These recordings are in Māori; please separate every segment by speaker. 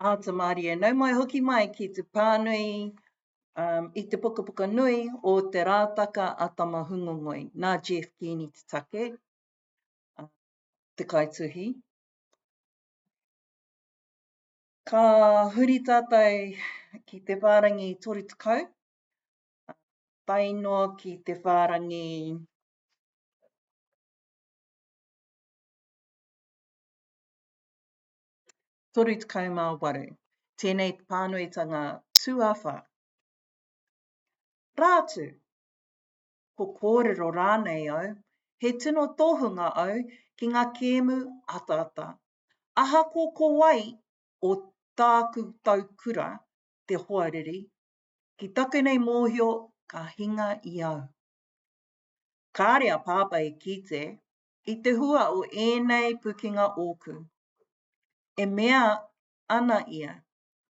Speaker 1: Āta mārie, nau mai hoki mai ki te pānui um, i te pukapuka nui o Te Rātaka a Tamahungongoi, nā Jeff Keeney te take, uh, te kaituhi. Ka huri tātai ki te whārangi 30, uh, tae noa ki te whārangi 38. Tēnei pānuitanga tuawhā. Rā atu, ko kōrero rānei au, he tino tohunga au ki ngā kēmu ataata. Ahako ko wai o tāku tau kura te hoariri, ki taku nei mōhio ka hinga i au. Kāre a Pāpā e kite, I te hua o ēnei pukenga ōku, e mea ana ia,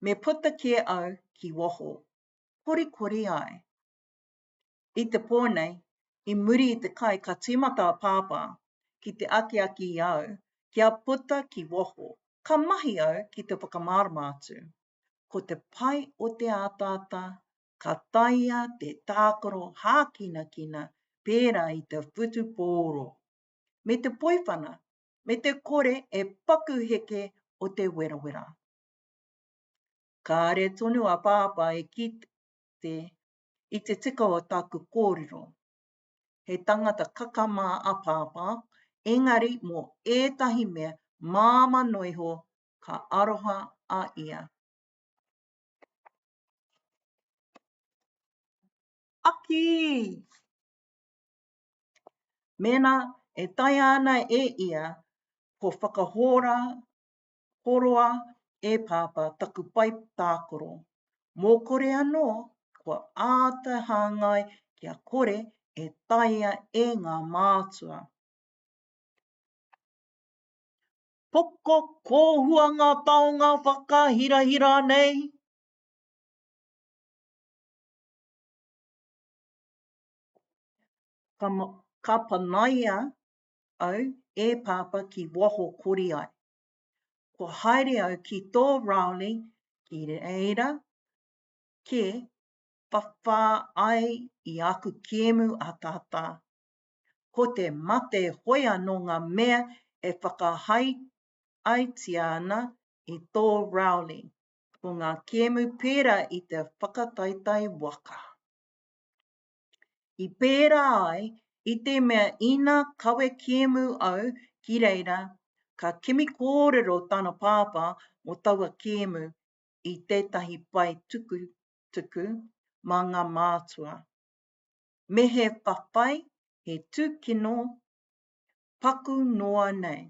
Speaker 1: me puta kē au ki waho, korikori ai. I te pō nei, i muri i te kai ka tīmata a Pāpā ki te akiaki i a au kia puta ki waho, ka mahi au ki te whakamārama atu. Ko te pai o te ataata ka taea te tākaro hākinakina pērā i te whutupōro, me te poiwhana, me te kore e paku heke o te werawera. Kāre tonu a Pāpā e kite i te tika o taku kōrero. He tangata kakama a Pāpā, engari mō ētahi mea māmano iho ka aroha a ia. Aki! Mēnā e taea ana e ia, ko whakahora horoa e Pāpā taku pae tākoro. Mō kore anō, kua āta hāngai kia kore e taea e ngā mātua. Poko kōhua ngā taonga whakahirahira nei. Ka, ka panaia au e Pāpā ki waho kori ai. Kua haere au ki tō Rowley ki reira kē whawhā ai i aku kēmu ataata Ko te mate hoi anō ngā mea e whakahaeatia ana i tō Rowley. Ko ngā kēmu pērā i te whakataetae waka. I pērā ai i te mea ina kawe kēmu au ki reira, ka kimi kōrero tana pāpā mō taua kēmu i tētahi pae tukutuku mā ngā mātua. me he whawhai, he tūkino paku noa nei.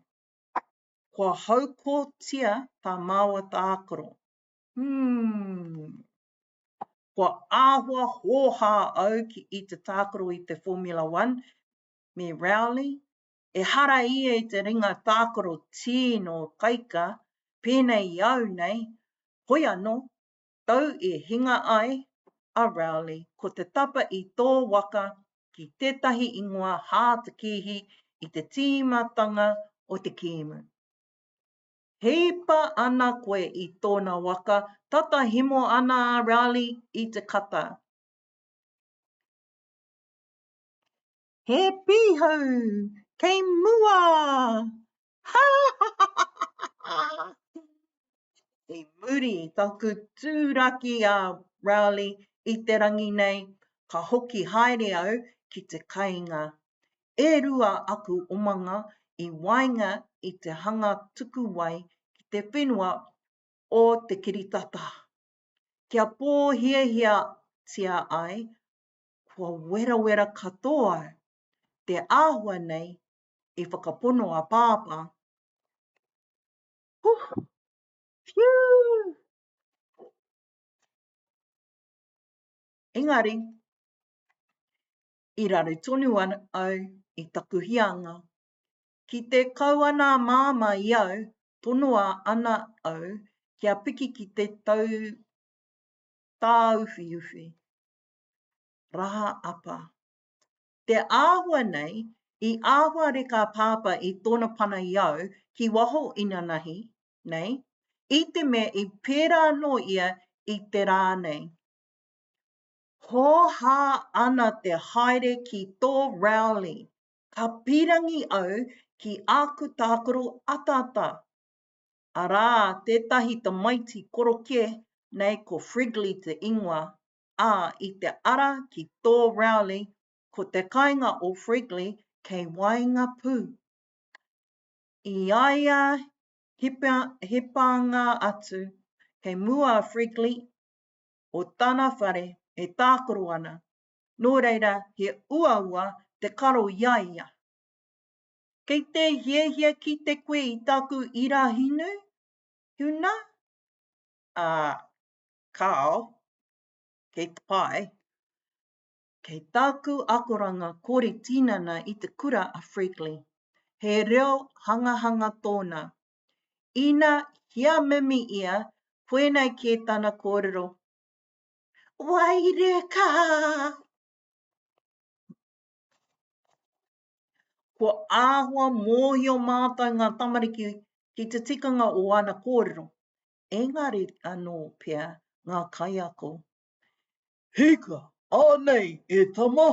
Speaker 1: Kua haukotia tā māua tākaro. Hūm! Kua āhua hōhā au ki i te tākaro i te Formula One me Rowley, ehara ia i te ringa tākaro tīno kaika, pēnei i au nei, hoi anō, tau i hinga ai a Rowley ko te tapa i tō waka ki tētahi ingoa hātakīhi i te tīmatanga o te kīmu. Hipa ana koe i tōna waka, tata himo ana a Rowley i te kata. He pīhau! Kei mua! I muri i taku tūraki a Rowley i te rangi nei, ka hoki haere au ki te kainga. E rua aku omanga i waenga i te hanga tuku wai ki te whenua o te kiritata. Kia pōhiahiatia ai, kua werawera katoa te āhua nei i whakapono a Pāpā. Huh! Whew! Engari, i raru tonu au i taku hianga. Ki te kau ana a Māmā i au, tonoa ana au kia piki ki te tau tāuwhiuwhi. Raha apa. Te āhua nei, i āhua reka a Pāpā i tōna pana i au ki waho inanahi nei, i te mea i pērā anō ia i te rā nei. Hōhā ana te haere ki tō Rowley, ka pīrangi au ki āku tākaro ataata, arā, tētahi tamaiti korokē nei ko Frigley te ingoa, ā, i te ara ki tō Rowley, ko te kainga o Fregley kei waenga pū. I a ia hipanga atu, kei mua a Fregley o tana whare e tākaro ana, nō reira he uaua te karo i a ia. Kei te hiahia kite koe i taku irahinu, tuna? Ā, Kāo, kei te pae, kei tāku akoranga kori tinana i te kura a Freakley, he reo hangahanga tōna. Ina hia mimi ia, koinei kē tana kōrero, Waireka! Kua āhua mōhio mātou ngā tamariki ki te tikanga o ana kōrero, engari anō pea ngā kaiako. Hika! Anei, e tama!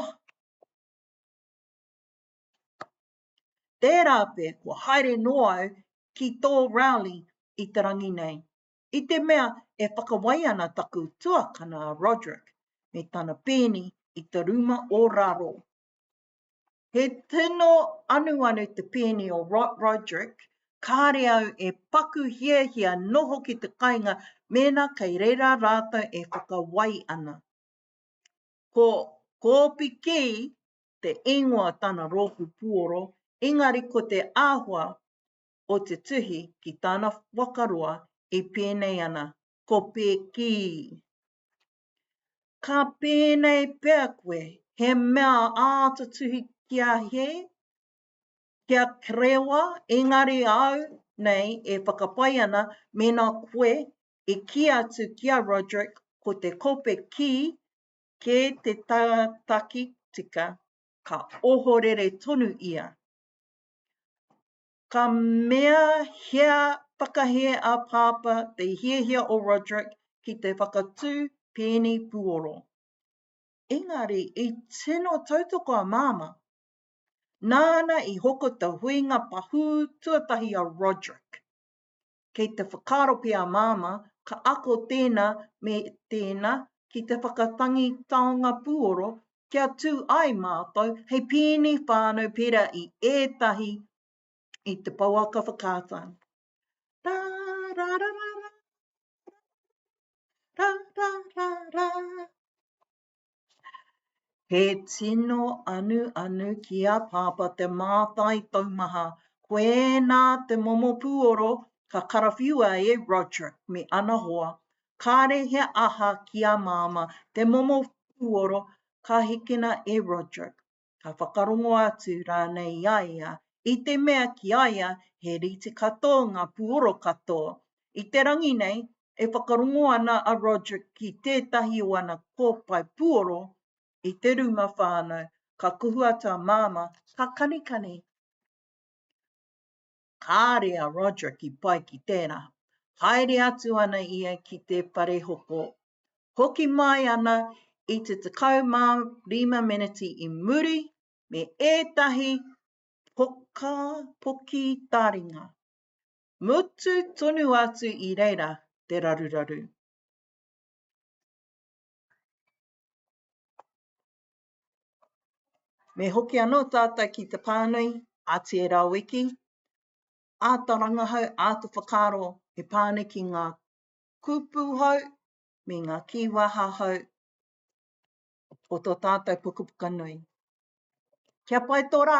Speaker 1: Tērā pea kua haere noa au ki tō Rowley i te rangi nei. I te mea e whakawai ana taku tuakana a Roderick me tana pēni i te rūma o raro. He tino anuanu te pēni o Rot Roderick, kāre au e paku hiahia noho ki te kainga mēnā kei reira rātou e whakawai ana. Ko Kōpikī te ingoa o tana rōpū puoro, engari ko te āhua o te tuhi ki tana waka roa e pēnei ana, ko Pēkī. Ka pēnei pea koe, he mea āta tuhi ki a He, ki a Kerewa, engari au nei e whakapae ana mēnā koe e kī atu ki a Roderick ko te kope kī kē te tātaki tika, ka ohorere tonu ia. Ka mea hea whakahē a Pāpā te hiahia o Roderick ki te whakatū pēni puoro. Engari i tino tautoko a Māmā. Nāna i hoko te huinga pahū tuatahi a Roderick. Kei te whakaaro pea a Māmā, ka ako tēnā me tēnā ki te whakatangi taonga pūoro kia tū ai mātou hei pēni whānau pērā i ētahi i te pouaka whakaata. Rārararara, rārararara. He tino anuanu ki a Pāpā te mātai taumaha, koinā te momo pūoro ka karawhiua e Roderick me ana hoa, kāre he aha ki a Māmā te momo pūoro ka hikina e Roderick. ka whakarongo atu rānei i a ia, i te mea ki a ia he rite katoa ngā puoro katoa. I te rangi nei, e whakarongo ana a Roderick ki tētahi o ana kōpae puoro i te rūma whānau, ka kuhu atu a Māmā, ka kanikani. kāre a Roderick i pai ki tērā. Haere atu ana ia ki te whare hoko, hoki mai ana i te 15 meneti i muri me ētahi poka poki taringa. Mutu tonu atu i reira te raruraru. Me hoki anō tātou ki te pānui a Te Rawiki, āta rangahau, āta whakaaro he pānui ki ngā kupu hou me ngā kīwaha hou o tō tātou pukapuka nui. Kia pai tō rā!